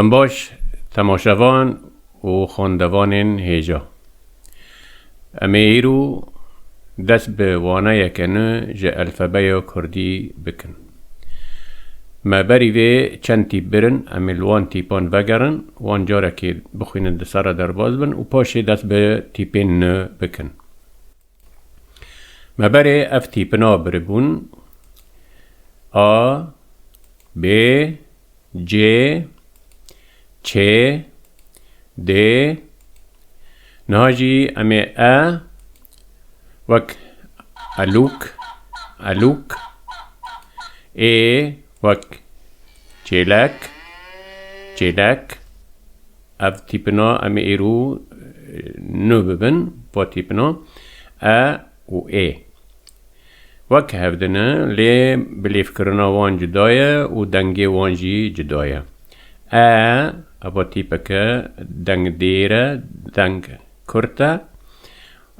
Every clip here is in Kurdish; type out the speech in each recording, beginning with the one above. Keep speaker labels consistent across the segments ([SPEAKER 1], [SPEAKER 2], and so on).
[SPEAKER 1] Dem baş temaşevan û xwendevanên hêja. Em ê îro dest bi waneyeke nû ji elfebeya kurdî bikin. Me berî vê çend tîp birin, em ê li wan tîpan vegerin, wan carekê bixwînin di ser re derbas bin û paşê dest bi tîpên nû bikin. Me berê ev tîpina biribûn A, B, C, Ç, D. Niha jî em ê E wek elûk, elûk, Ê wek çêlek, çêlek, Ev tîpina em ê îro nû bibin bo tîpina e û ê. Wek hev din e lê bilêvkirina wan cuda ye û dengê wan jî cuda ye. E, evo tîpek e, deng dêr e, deng kurt e.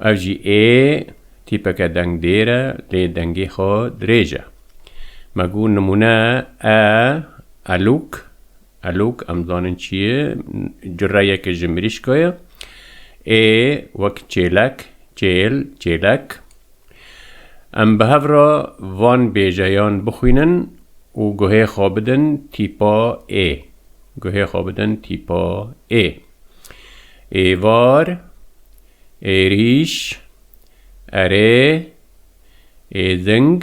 [SPEAKER 1] Ev jî ê, tîpek e deng dêr e lê dengê xwe dirêj e. Me got nimûne e, elûk, Elok em zanîn çi ye, cureyeke ji mirîşka ye. Ê wek çêlek, çêl, çêlek. Em bi hev re van bêjeyan bixwînin û guhê xwe bidin tîpa ê. Guhê xwe bidin tîpa ê. Êvar, êrîş, erê, êzing,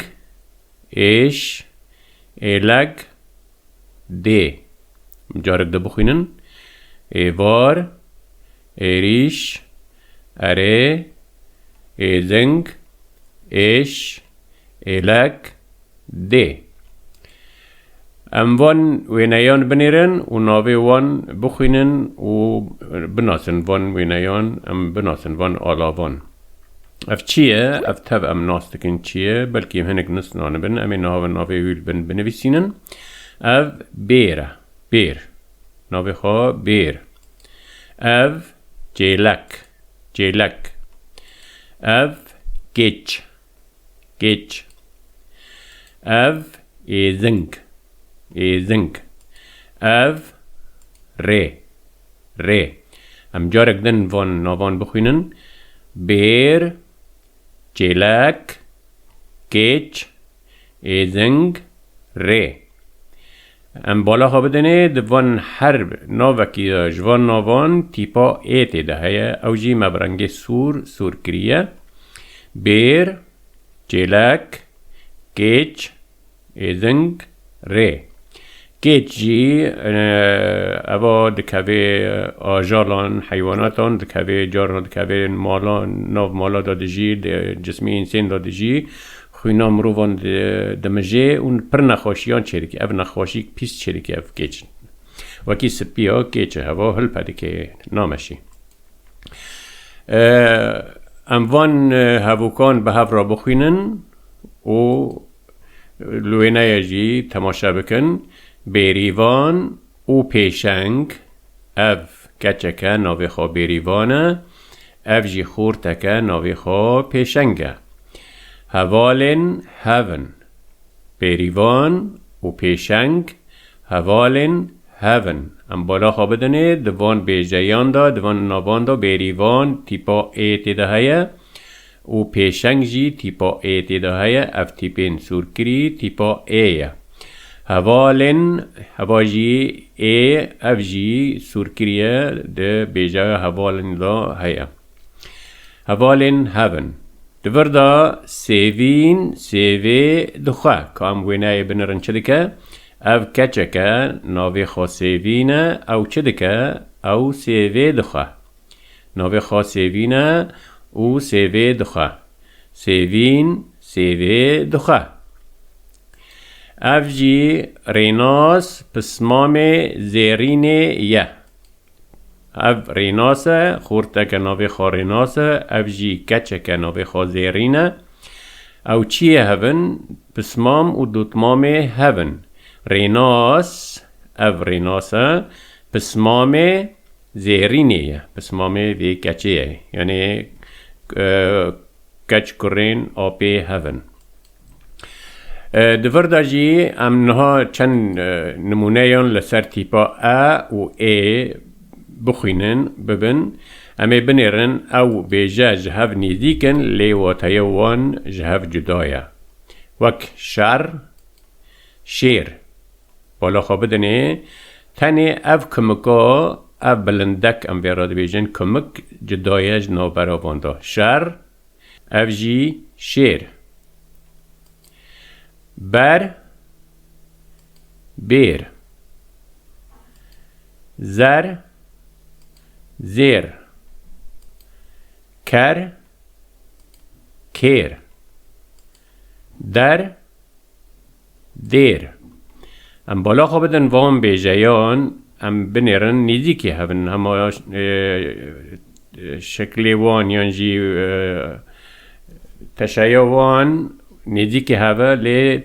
[SPEAKER 1] êş, êleg, dê. Carek di bixwînin, êvar, êrîş, erê, êzing, êş, êlek, dê. Em van wêneyan binêrin û navê wan bixwînin û binasin. Van wêneyan em binasin, van alavan. Ev çi ye? Ev tev em nas dikin çi ye, belkî hinek nusnan bin, em ê navê navê wî li bin binivîsînin. Ev bêr e. Bêr. Navê xwe bêr. Ev cêlek. Cêlek. Ev gêç. Gêç. Ev êzing. Êzing. Ev rê. Rê. Em carek din van navan bixwînin, Bêr, Çêlek, Kêç, Êzing, Rê. Em bala xwe bidinê di van her navekî de ji van navan tîpa ê tê de heye, ew jî me bi rengê sor sor kiriye, Bêr, Çêlek, Kêç, Êding rê. Kêç jî eva dikevê ajalan, heywanatan dikevê, carna dikevê malan, nav mala de dijî, di cismê însên de dijî, xwîna mirovan dimijê û pir nexweşiyan çêdike. Ev nexweşîk pîs çêdike ev kêç. Wekî sipiya kêç e heva hilpe dike nameşî. Em van hevokan bi hev re bixwînin Û li wêneyê jî temaşe bikin, Bêrîvan û Pêşeng, ev keçeke navê xwe Bêrîvan e, ev jî xorteke navê xwe Pêşeng e. Hevalên hev in. Bêrîvan û Pêşeng hevalên hev in. Em bala xwe bidinê di van bêjeyan de, di van navan de Bêrîvan tîpa ê tê de heye. Û pêşeng jî tîpa ê tê de heye, ev tîpên sûrkirî tîpa ê ye. Hevalên heva jî ê, ev jî sûrkirî ye di bêjaya hevalên de heye. Hevalên hev in. Di vir de sêvîn, sêvê, dixwe. Ka em wêneyê binirin çi dike? Ev keçek e, navê xwe sêvîn e, ew çi dike? Ew sêvê dixwe. Navê xwe Sêvîn e û sêvê dixwe. Sêvîn sêvê dixwe. Ev jî rênas pismamê zêrînê ye. Ev rênas e, xorteke navê xwe rênas e, ev jî keçeke navê xwe zêrîn e. Ew çiyê hev in? Pismam û dotmamê hev in. Rênas, ev rênas e, pismamê. Zêhirînê ye pismamê vê keçê ye. Yanê keç kurên apê hev in. Di vir de jî em niha çend nimûneyan li ser tîpa e û ê bixwînin, bibin. Em ê binêrin ew bêje ji hev nêzdîk in lê wateya wan ji hev cuda ye. Wek şer, şêr. Bala xwe bidinê, tenê ev kimika, ev bilindek em vê re dibêjin, kimik cuda ye ji navbera van de. Şer, ev jî şêr. Ber, bêr. Zer, zêr. Ker, kêr. Der, Dêr. Em bala xwe bidin van bêjeyan, em binêrin nêzîkî hev in, hema şeklê wan yan jî teşeya wan nêzîkî hev e lê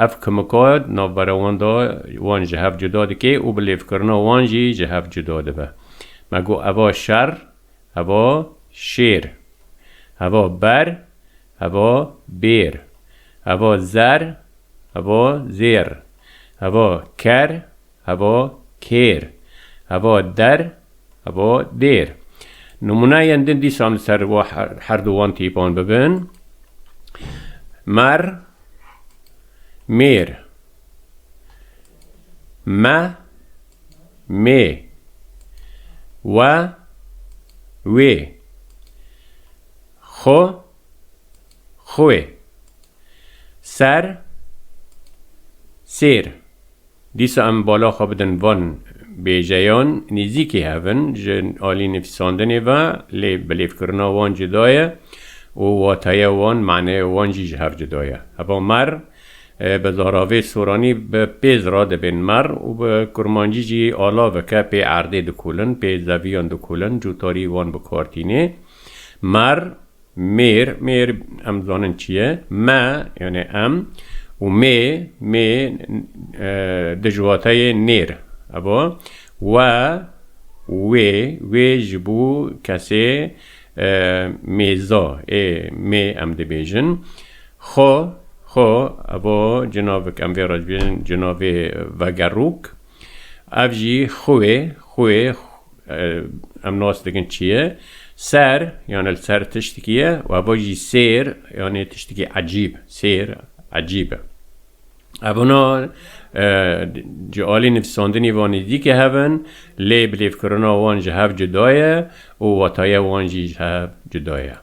[SPEAKER 1] ev kimika navberewanda wan ji hev cuda dike û bi lêvkirina wan jî ji hev cuda dibe. Me got eva şer, eva şêr, eva ber, Evo bêr. Evo zer. Evo zêr. Evo ker. Evo kêr. Evo der. Evo dêr. Nimûneyên din dîsan li ser her du wan tîpan bibin, Mer mêr. Me mê. We wê. Xo, xwê. Ser, sêr. Dîsa em bala xwe bidin van bêjeyan, nêzîkî hev in ji alî nivîsandinê ve lê bilêvkirina wan cuda ye û wateya wan, maneya wan jî ji hev cuda ye. Heva mer bi zaravê soranî bi pêz re dibên mer û bi kurmancî jî alav e ke pê erdê dikolin, pê zeviyan dikolin, cotarî wan bi kar tîne. Mar, mêr, mêr em dizanin çi ye. Me, yanê em û mê, mê di ji wateyê nêr e bo. We û wê, wê ji bo kesê mêza ê mê em dibêjin. Xwe, xwe, ev a cinavik em vê re dibêjin cinavê vegerok. Ev jî xuê, xuê, em nas dikin çi ye, ser yani li ser tiştikî ye û heva jî sêr yani tiştikî ecîb, sêr, ecîb e. Ev hûna ji alî nivîsandinê ve nêzdîk e hev in lê bilêvkirina wan ji hev cuda ye û wetaye wan jî ji hev cuda ye.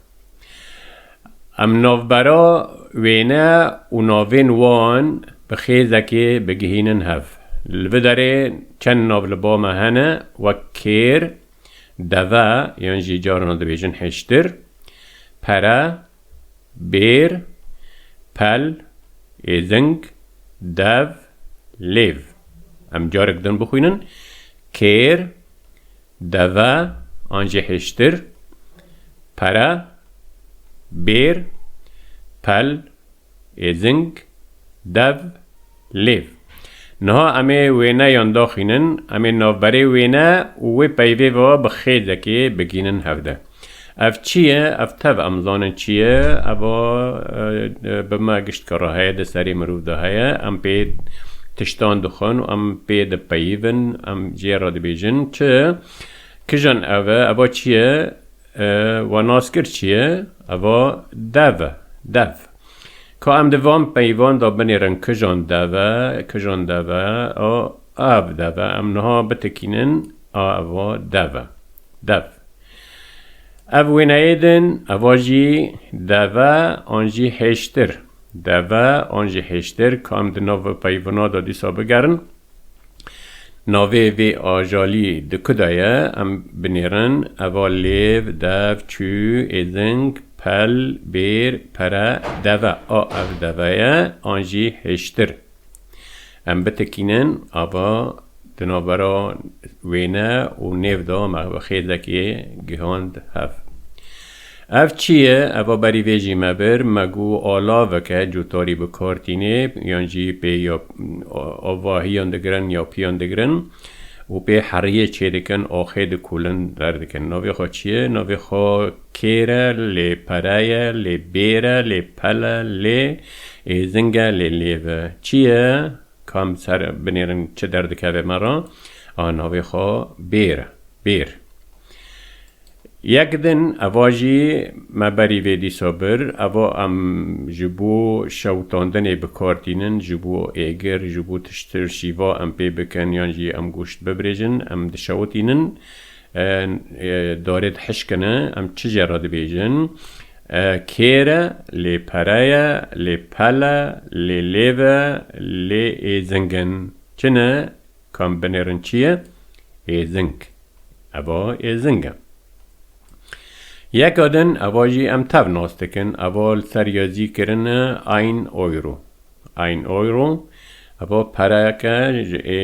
[SPEAKER 1] Em navbera wêne û navên wan bi xêzekê bigihînin hev. Li vi derê çend nav li ba me hene wek kêr, deve yan jî carina dibêjin hêştir, pere, bêr, pel, êzing, dev, lêv. Em carek din bixwînin, kêr, Deve an jî hiştir, pere, bêr, pel, êzing, dev, lêv. Niha em ê wêne yan daxînin, em ê navberê wêne û wê peyvê ve bi xêzekê bigihînin hevde. Ev çi ye? Ev tev em zanin çi ye. Ev a bi me gişt ke re heye, di serê mirov de heye. Em pê tiştan dixwin û em pê dipeyivin. Em jê re dibêjin çi? Kijan ev e? Ev a çi ye? We nas kir çi ye? Ev a dev e. Dev. Ka em di van peyivan de binêrin kijan dev e, kijan dev e. A. Av dev e. Em niha bitikînin ava dev e. Dev. Ev wêneyê din eva jî dev e an jî hêştir. Dev e an jî hêştir ka em di nav peyvina de dîsa bigerin. Navê vê ajalî di ku de ye em binêrin eva lêv, dev, çû, êzing, pel, bêr, pere, deve. A ev deve ye an jî hêştir. Em bitekînin ava di navbera wêne û nêv de mexxêzekê gihand hev. Ev çi ye? Eva berî vê jî me bir, me got alaveke cotarî bi kar tîne yan jî pê ya avahiyan digirin ya piyan digirin û pê heriyê çêdikin axê dikolin derdikin. Navê xwe çi ye? Navê xwe Kêre, lê pereye, lê bêre, lê pele, lê êzinge, lê lêve. Çi ye? Ka min ser binêrin çi derdikeve me re? A navê xwe bêr e. Bêr. Yek din eva jî me berî vê dîsa bir. Eva em ji bo şewitandinê bi kar tînin, ji bo êgir, ji bo tiştir şîva em pê bikin yan jî em goşt bibirêjin, em dişewitînin. Em dorê dihişkin e, em çi jê re dibêjin? Kêr e, lê pere ye, lê pel e, lê lêv e, lê êzing in. Çi ne? Ka em binêrin çi ye? Êzing. Eva êzing e. Yeka din, eva jî em tev nas dikin, eva li ser yazî kirine ein euro. Ein Euro, evo pereyek e ji ê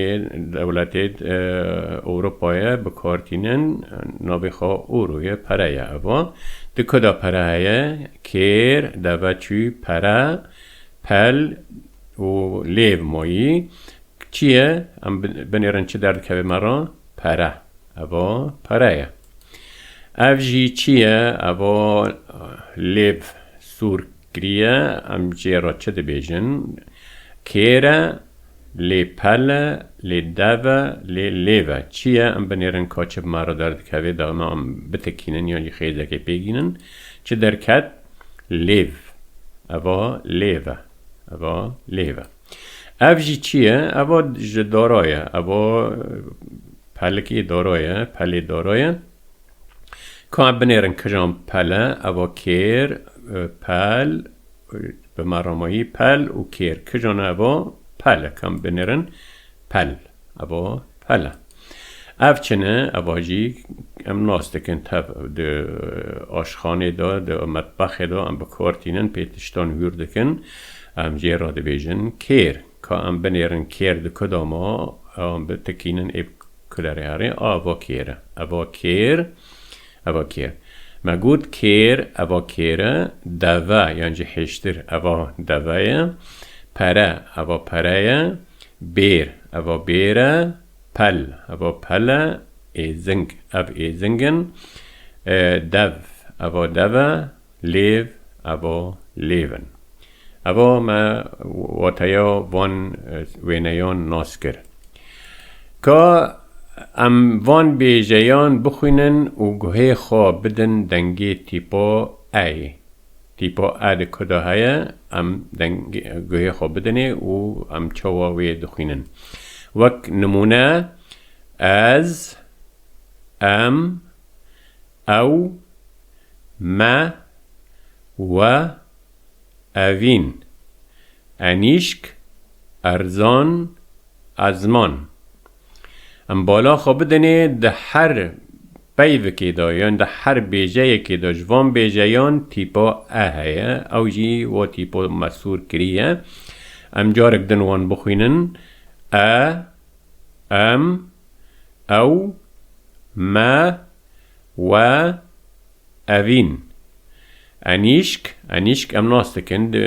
[SPEAKER 1] dewletê di Ewropayê bi kar tînin, navê xwe Euro ye, pere ye evo. Di ku de pere heye, kêr, deve, çû, pere, pel û lêv mayî. Çi ye? Em binêrin çi derdikeve me re? Pere. Evo pere ye. Ev jî çi ye? Evo lêv, sûr, Kiriye, em jê re çi dibêjin? Kêr e, lê pel e, lê dev e, lê lêv e. Çi ye? Em binêrin ka çi bi me re derdikeve, daima em bitikînin yan jî xêzekê pê gînin. Çi derket? Lêv. Eva lêv e. Eva lêv e. Ev jî çi ye? Eva ji dara ye. Eva pelikê dara ye, pelê dara ye. Ka em binêrin kijan pele, evo kêr, pel, bi me re mayî pel û kêr. Kijan e evo? Pel e. Ka em binêrin pel, evo pel e. Ev çin e, eva jî em nas dikin tev di aşxanê de, di metbexê de em bi kar tînin pê tiştan hûr dikin, em jê re dibêjin kêr. Ka em binêrin kêr di ku de ma, em bitikînin ê kulerê herê, a eva kêr e, eva kêr, eva kêr. Me got kêr eva kêr e, deve yan jî hêştir eva deve ye, pere eva pere ye, bêr eva bêr e, pel eva pel e, êzing ev êzing in, dev eva dev e, Lêv, evo, lêv in. Evo me wateya van wêneyan nas kir. Ka em van bêjeyan bixwînin û guhê xwe bidin dengê tîpa eyê. Tîpa e di ku de heye, em guhê xwe bidinê û em çawa wê dixwînin. Wek nimûne, ez, em, Ew, me, we, ev in. Enîşk, erzan, ezman. Em bala xwe bidinê di her peyvikê de yan di her bêjeyekê de ji van bêjeyan tîpa e heye, ew jî wa tîpa mesûr kiriye. Em carek din wan bixwînin, e, em, Ew, me, we, ev in. Enîşk, enîşk em nas dikin, di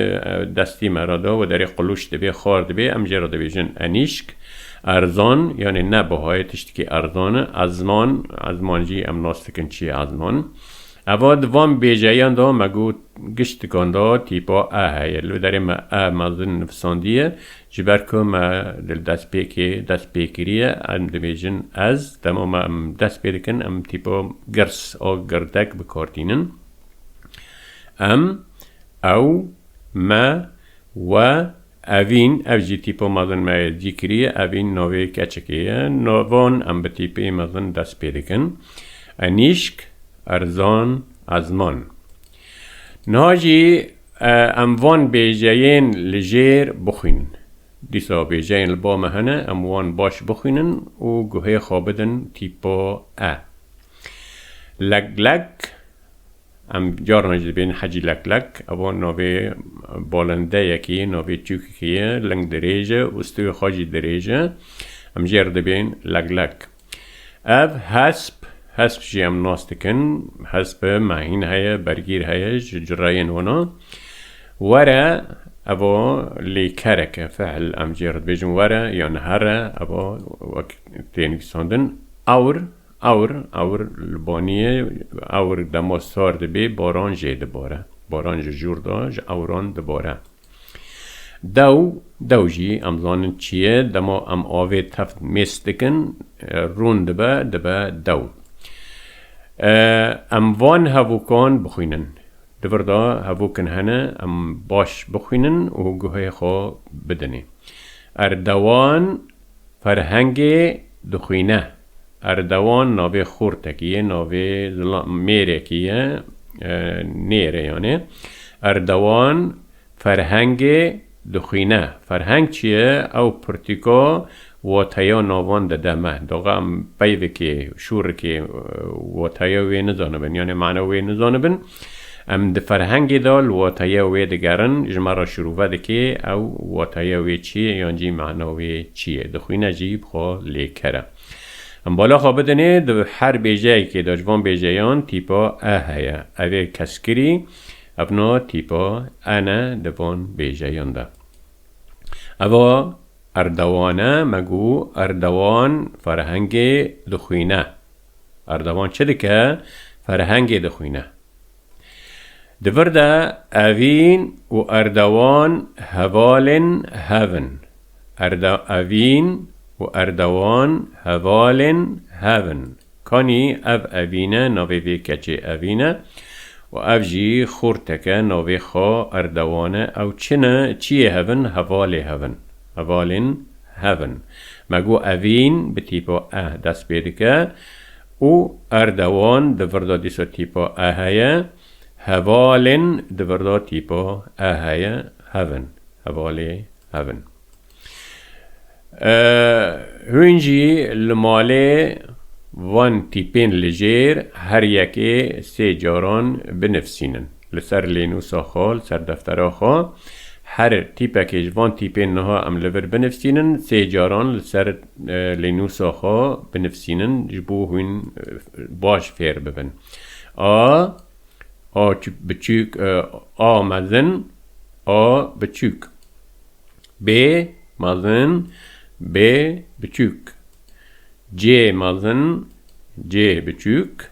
[SPEAKER 1] destê me re de wederê qilûç dibe, xar dibe, em jê re dibêjin enîşk. Erzan, yanê ne bihayê tiştekî erzan e. Ezman, ezman jî em nas dikin çi ye ezman. Eva di van bêjeyan de me got giştikan de tîpa e heye. Li derê me e mezin nivîsandiye, Ji ber ku me li destpêkê dest pê kiriye, em dibêjin ez, dema me em dest pê dikin em tîpo girs û girdek bikortînin. Em, ew, me, we, evîn, ev jî tîpo mezin me yê cî kiriye, evîn navê keçikê ye, navon em bi tîpê mezin dest pê dikin. Enîşk, erzan, ezman. Niha jî Em van bêjeyên li jêr bixwînin. Dîsa bêjeyên li ba me hene, em wan baş bixwînin û guhê xwe bidin tîpa e. Leklek, Em carnan jî dibêjin Hecî Leklek. Ewa navê balindeyekî ye, navê Tûkikî ye, ling dirêj e û stûyê xwe jî dirêj e. Em jê re dibêjin Leklek. Ev hesp, hesp jî em nas dikin, hesp mehîn heye, bergîr heye ji cureyên wan a. Were, eva lêkerek e, fiil em jê re dibêjin were yan here, eva wek tê nivîsandin ewr, ewr, ewr li baniyê, ewr dema sar dibê baran jê dibare, baran ji jûr de ji ewran dibare. Dew, dew jî em zanin çi ye, dema em avê teft mêst dikin, rûn dibe, dibe dew. Em van hevûkan bixwînin. Di vir de hevûk in hene em baş bixwînin û guhê xwe bidinê. Er dewan. Ferhengê dixwîne. Erdewan navê xortekî ye, navê mêrekî ye, nêre yanê. Erdewan ferhengê dixwîne. Ferheng çi ye? Ew pirtîka wateya navan dide me. Doqa em peyvekê, şûrekê wateya wê nizanibin, yanê mana wê nizanibin. Em di ferhengê de li wateya wê digerin, ji me re şirove dike ew wateya wê çi ye yan jî mana wê çi ye, dixwîne jî bi xwe lê kere. Em bala xwe bidinê di her bêjeyekê de, ji van bêjeyan tîpa e heye, ev ê keskirî, ev na tîpa en e di van bêjeyan de. Ev a Erdogan e, me got Erdogan ferhengê dixwîne. Erdogan çi dike? Ferhengê dixwîne. Di vir de Evîn û Erdogan hevalên hev in. Evîn û Erdogan hevalên hev in. Kanî ev Evîn e, navê vê keçê Evîn e û ev jî xortek e, navê xwe Erdogan e. Ew çi ne? Çiyê hev in? Hevalê hev in. Hevalên. Hev in. Me got evîn bi tîpa eh dest pê dike û erdewan di virda dîsa tîpa eh heye, hevalên di virda tîpa eh heye, hev in, hevalê hev in. Hûn jî li malê van tîpên li jêr her yekê sê caran binivîsînin. Li ser lênûsa xwe, li ser deftera xwe, her tîpekê ji van tîpên niha em li vir binivîsînin, sê caran li ser lênûsa xwe binivîsînin ji bo hûn baş fêr bibin. A, A biçûk, A mezin, A biçûk. B mezin, B biçûk. C mezin, C biçûk.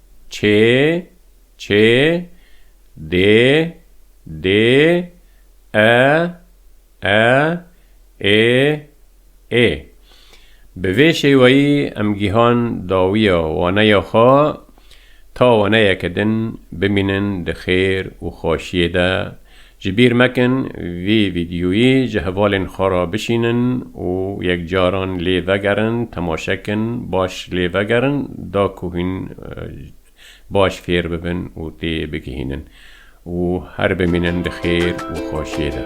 [SPEAKER 1] Çê, çê, dê, dê, e, e, ê, ê. Bi vê şêweyî em gihan dawiya waneya xwe ta waneyeke din bimînin di xêr û xweşiyê de Ji bîr mekin vî vîdyoyî ji hevalên xwe re bişînin û yekcaran lê vegerin, temaşe kin, baş lê vegerin da ku hûn baş fêr bibin û tê bigihînin û her bimînin di xêr û xweşiyê de.